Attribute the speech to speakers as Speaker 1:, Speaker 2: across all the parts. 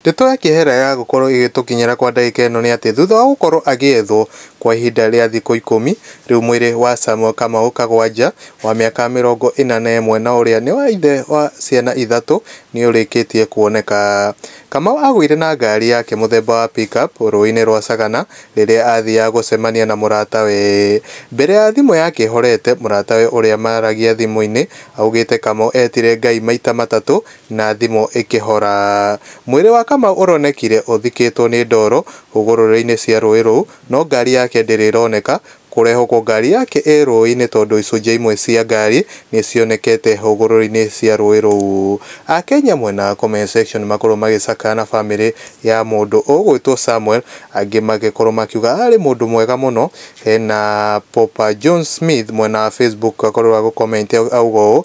Speaker 1: Ndeto ya kĩehera ya gũkorwo ĩgĩtũkinyĩra kwa ndagĩka ĩno nĩ atĩ thutha wa gũkorwo agĩethwo kwa ihinda rĩa thikũ ikũmi, rĩu mwĩrĩ wa Samuel Kamau Kagwanja wa mĩaka mĩrongo ĩna na ĩmwe na ũrĩa nĩ ithe wa ciana ithatũ nĩũrĩkĩtie kuoneka. Kamau agũire na ngari yake mũthemba wa pick up rũĩ-inĩ rwa Sagana rĩrĩa athiaga gũcemania na mũratawe. Mbere ya thimũ yake ĩhorete, mũratawe ũrĩa maragia thimũ-inĩ augĩte Kamau etire Ngai maita matatũ Na thimũ ĩkĩhora. Mwĩrĩ wa Kamau ũronekire ũthikĩtwo nĩ ndoro hũgũrũrũ-inĩ cia rũĩ rũu, no ngari yake ndĩrĩ ĩroneka. Kũrehwo kwa ngari yake ĩ rũĩ-inĩ tondũ icunjĩ imwe cia ngari nĩ cionekete hũgũrũrũ-inĩ cia rũĩ rũu. Akenya mwena wa comment section makorwo magĩcakaya na famĩlĩ ya mũndũ ũgwĩtwo Samuel, angĩ magĩkorwo makiuga arĩ mũndũ mwega mũno. Hena Popa John Smith mwena wa Facebook akorirwo agũ comment auga ũũ,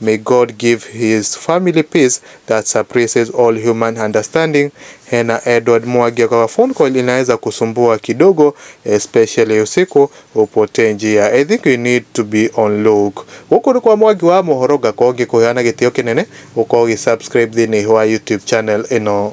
Speaker 1: May God give his family peace that surpasses all human understanding. Hena Edward Mwagi kwa phone call inaweza kusumbua kidogo, especially usiku upotee njia. I think you need to be on look. Gũkũ nĩ kwa Mwagi wa mohoro ngakorwo ngĩkũheana gĩtĩo kĩnene ũkorwo ũgĩ subscribe thĩinĩ wa YouTube channel ĩno.